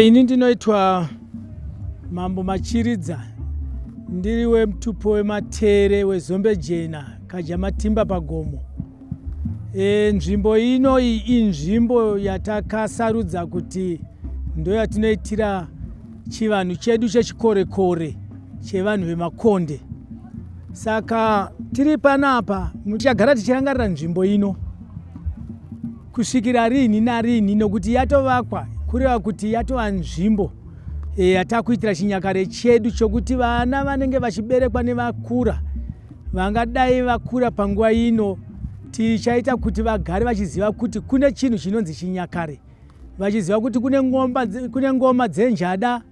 Ini ndinoitwa Mambo Machiridza ndiri wemutupo wematere wezombe jena Kajamatimba pagomo. E, nzvimbo ino iyi inzvimbo yatakasarudza kuti ndoyatinoitira chivanhu chedu chechikorekore chevanhu vemakonde. Saka tiri panapa tichagara tichirangarira nzvimbo ino. kusvikira riinhi nariinhi nokuti yatovakwa kureva kuti yatova nzvimbo eh, yatakuitira chinyakare chedu chokuti vana vanenge vachiberekwa nevakura vangadai vakura panguva ino tichaita kuti vagare vachiziva kuti kune chinhu chinonzi chinyakare vachiziva kuti kune ngomba kune ngoma dzenjada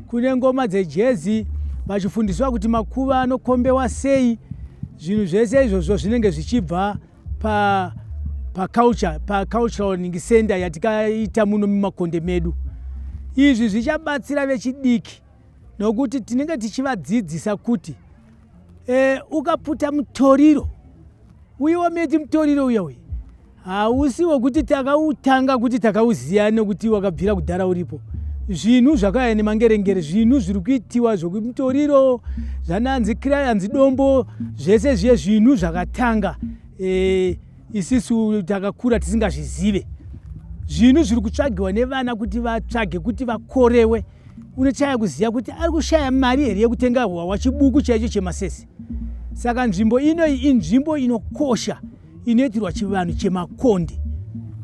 kune ngoma dzejezi vachifundiswa kuti makuva anokombewa sei zvinhu zvese izvozvo zvinenge zvichibva pa pa culture pa cultural learning center yatikaita muno mumakonde medu izvi zvichabatsira vechidiki nokuti tinenge tichivadzidzisa kuti e, ukaputa mutoriro uye wameti mutoriro uya uyu hausi wekuti takautanga kuti takauziva nekuti wakabvira kudhara uripo zvinhu zvakauya nemangerengere zvinhu zviri kuitiwa zvekumitoriro zvananzi kirayanzi dombo zvese zviye zvinhu zvakatanga e, isisu takakura tisingazvizive zvinhu zviri kutsvagiwa nevana kuti vatsvage kuti vakorewe unochaya kuziva kuti ari kushaya mari here yekutenga hwawa chibuku chaicho chemasese saka nzvimbo inoyi inzvimbo inokosha inoitirwa chivanhu chemakonde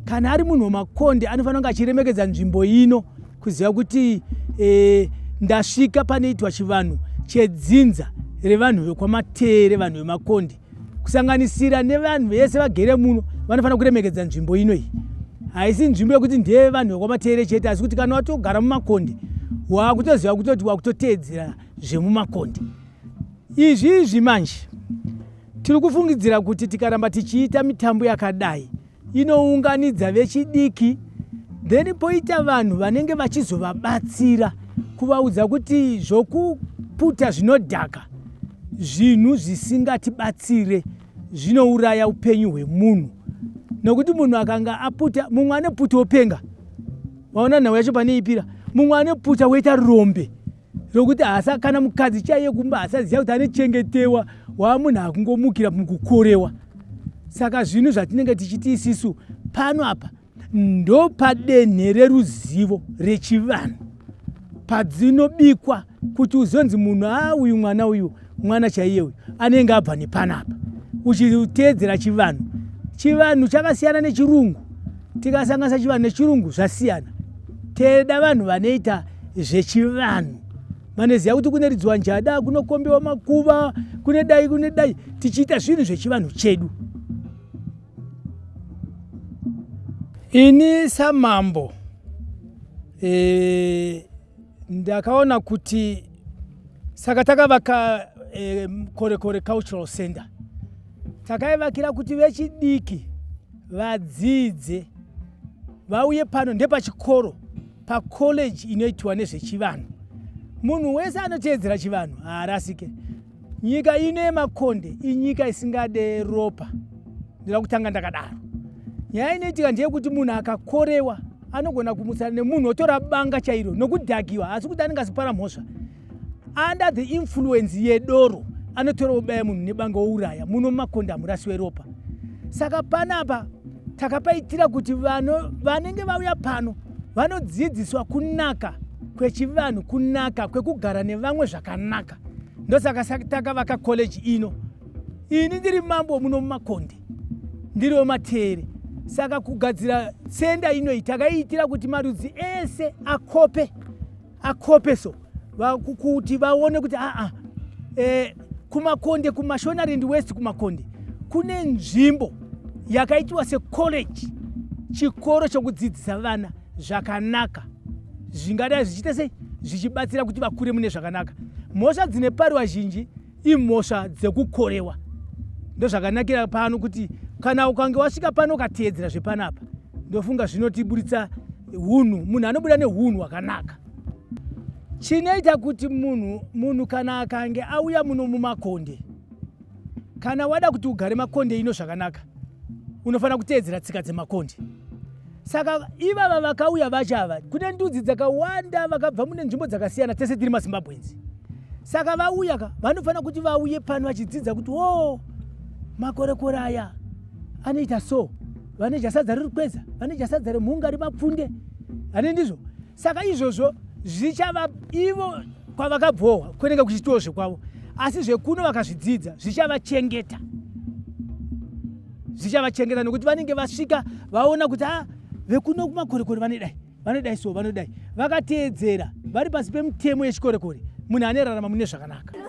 kana ari munhu wemakonde anofanira kunge achiremekedza nzvimbo ino kuziva kuti e, ndasvika panoitwa chivanhu chedzinza revanhu vekwamatere vanhu vemakonde kusanganisira nevanhu vese vagere muno vanofanira kuremekedza nzvimbo ino iyi haisi nzvimbo yekuti ndeye vanhu vekwamatere chete asi kuti kana watogara mumakonde waakutoziva kutoti wakutoteedzera zvemumakonde izvi izvi manje Tiri kufungidzira kuti tikaramba tichiita mitambo yakadai inounganidza vechidiki then poita vanhu vanenge vachizovabatsira kuvaudza kuti zvokuputa zvinodhaka zvinhu zvisingatibatsire zvinouraya upenyu hwemunhu nokuti munhu akanga aputa mumwe ane puta openga waona nhau yacho pane ipira mumwe ane puta woita rombe rokuti hasa kana mukadzi chaiye kumba hasaziva kuti anechengetewa waamunhu akungomukira mukukorewa saka zvinhu zvatinenge tichiti isisu pano apa ndopadenhe reruzivo rechivanhu padzinobikwa kuti uzonzi munhu a ah, uyu mwana uyu mwana chaiye uyu anenge abva nepanapa uchiteedzera chivanhu chivanhu chakasiyana nechirungu tikasanganisa chivanhu nechirungu zvasiyana teda vanhu vanoita zvechivanhu vanoziva kuti kune ridzwa njada kunokombewa makuva kune dai kune dai tichiita zvinhu zvechivanhu chedu ini samambo e, ndakaona kuti saka takavaka e, korekore cultural center takaivakira kuti vechidiki vadzidze vauye pano ndepachikoro pacollege inoitwa nezvechivanhu munhu wese anoteedzera chivanhu haarasike Nyika ino yemakonde inyika isingade ropa, ndinoda kutanga ndakadaro. Nyaya inoitika ndeyekuti munhu akakorewa anogona kumutsana nemunhu otora banga chairo nokudhakiwa asi kuti anenge asipara mhosva under the influence yedoro anotora obaya munhu nebanga ouraya muno mumakonda murasi weropa saka panapa takapaitira kuti vano vanenge vauya pano vanodzidziswa kunaka kwechivanhu kunaka kwekugara nevamwe zvakanaka ndosaka takavaka college ino ini ndiri mambo muno mumakonde ndiri wemateere saka kugadzira senda inoyi takaiitira kuti marudzi ese akope akope so kuti vaone kuti aa e, kumakonde kumashonaland west kumakonde kune nzvimbo yakaitiwa secollege chikoro chokudzidzisa vana zvakanaka zvingadai zvichiita sei zvichibatsira kuti vakure mune zvakanaka mhosva dzine pariwa zhinji imhosva dzekukorewa ndozvakanakira pano kuti kana ukange wasvika pano ukateedzera zvepanapa ndofunga zvinotiburitsa hunhu munhu anobuda neunhu hwakanaka chinoita kuti munhu munhu kana akange auya muno mumakonde Kana wada kuti ugare makonde ino zvakanaka, unofanira kuteedzera tsika dzemakonde. Saka ivava vakauya vacho ava, kune ndudzi dzakawanda vakabva mune nzvimbo dzakasiyana, tese tiri maZimbabwenzi. Saka vauya ka, vanofanira kuti vauye pano vachidzidza kuti wo oh, makorekore aya anoita so, vane jasadza riri kweza, vane jasadza remhunga remapfunde, ane ndizvo saka izvozvo zvichava ivo kwavakabvohwa kunenge kuchitiwo zvekwavo asi zvekuno vakazvidzidza zvichavachengeta zvichavachengeta nokuti vanenge vasvika vaona kuti a ah, vekuno kumakorekore vanodai vanodai so vanodai vakateedzera vari pasi pemitemo yechikorekore munhu anerarama mune zvakanaka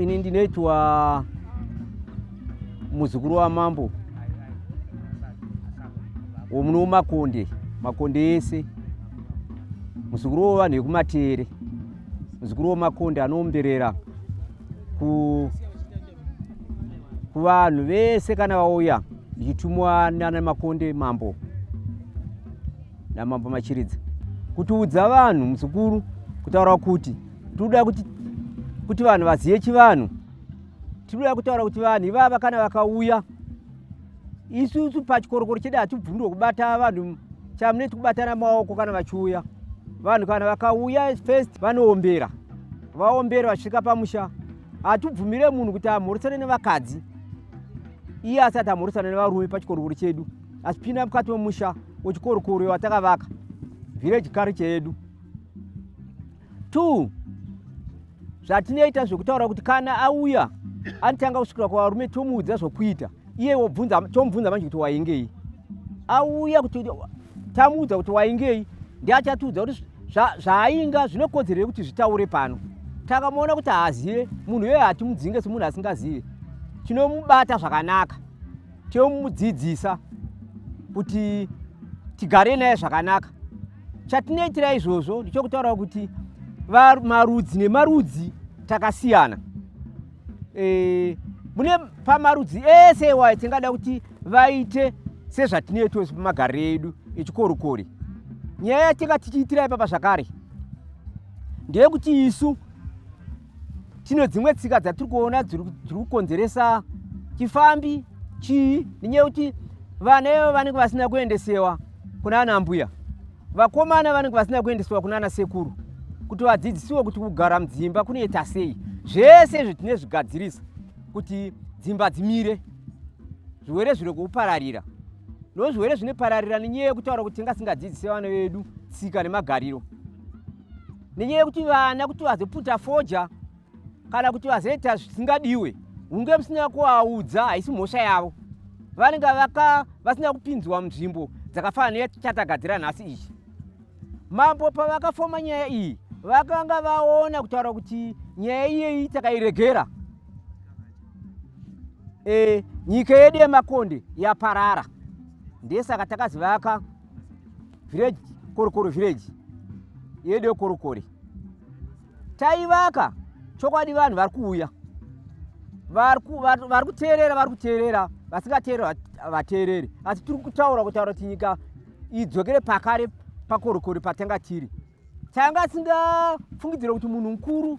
ini ndinoitwa muzukuru wamambo womuno womakonde makonde ese muzukuru wovanhu vekumatere muzukuru womakonde anoomberera ku kuvanhu vese kana vauya ndichitumwa nana makonde mambo namambo machiridza kutiudza vanhu muzukuru kutaura kuti tinoda kuti kuti vanhu vazive chivanhu tinoda kutaura kuti vanhu ivava kana vakauya isusu pachikorokoro chedu hatibvundirwe kubata vanhu chamuneti kubatana maoko kana vachiuya vanhu kana vakauya first vanoombera vaombera vasvika pamusha hatibvumire munhu kuti amhoresane nevakadzi iye asati amhoresana nevarume pachikorokoro chedu achipinda mukati memusha wechikorokoro watakavaka village culture yedu two zvatinoita zvekutaura kuti kana auya anotanga kusvikira kuvarume tomuudza zvokuita iye wobvunza tomubvunza manje kuti waingei auya kuti tamuudza kuti waingei ndi achatiudza kuti zvaainga zvinokodzerei kuti zvitaure pano takamuona kuti haazive munhu iyoyo hatimudzinge semunhu asingazive tinomubata zvakanaka tomudzidzisa kuti tigare naye zvakanaka chatinoitira izvozvo ndichokutaura kuti marudzi nemarudzi takasiyana e, mune pamarudzi ese iwayo tingada kuti vaite sezvatinoitwa pamagariro edu echikorikori nyaya yatinga tichiitira ipapa zvakare ndeyekuti isu tino dzimwe tsika dzatiri kuona dziri kukonzeresa chifambi chii nenyaya yekuti vana ivo vanenge vasina kuendesewa kuna ana mbuya vakomana vanenge vasina kuendesewa kuna ana sekuru kuti vadzidzisiwe kuti kugara mudzimba kunoita sei zvese izvi tine zvigadzirisa kuti dzimba dzimire zvirwere zviri kupararira nozvirwere zvinopararira nenyaya yekutaura kuti tingasingadzidzise vana vedu tsika nemagariro nenyaya yekuti vana kuti vazoputa foja kana kuti vazoita zvisingadiwe hunge musina kuvaudza haisi mhosva yavo vanenge vaka vasina kupinzwa munzvimbo dzakafana neyatatagadzira nhasi iyi mambo pavakafoma nyaya iyi vakanga vaona kutaura kuti nyaya iyeyi takairegera e, nyika yedu yemakonde yaparara ndesaka takazivaka village korokoro village yedu yekorokori taivaka chokwadi vanhu vari kuuya vari kuteerera vari kuteerera vasingateereri vateereri asi tiri kutaura kutaura kuti nyika idzokere pakare pakorokori patanga tiri tanga asingafungidzira kuti munhu mukuru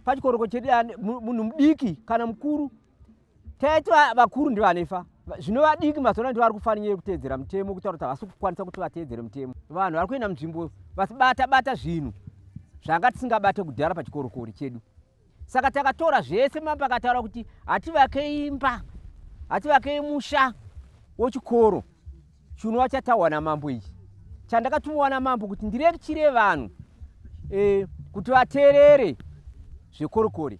pachikoroko chedu munhu mudiki kana mukuru taiti vakuru ndivanoifa zvino vadiki mazuva ndivari kufanira kuteedzera mutemo kutaura kuti havasi kukwanisa kuti vateedzere mutemo vanhu vari kuenda munzvimbo vasibata bata zvinhu zvanga tisingabate kudhara pachikorokori chedu saka takatora zvese mapa akataura kuti hativakei imba hativakei musha wechikoro chinova chataurwa namambo ichi chandakatumiwa namambo kuti ndirekitire vanhu e, kuti vateerere zvekorokori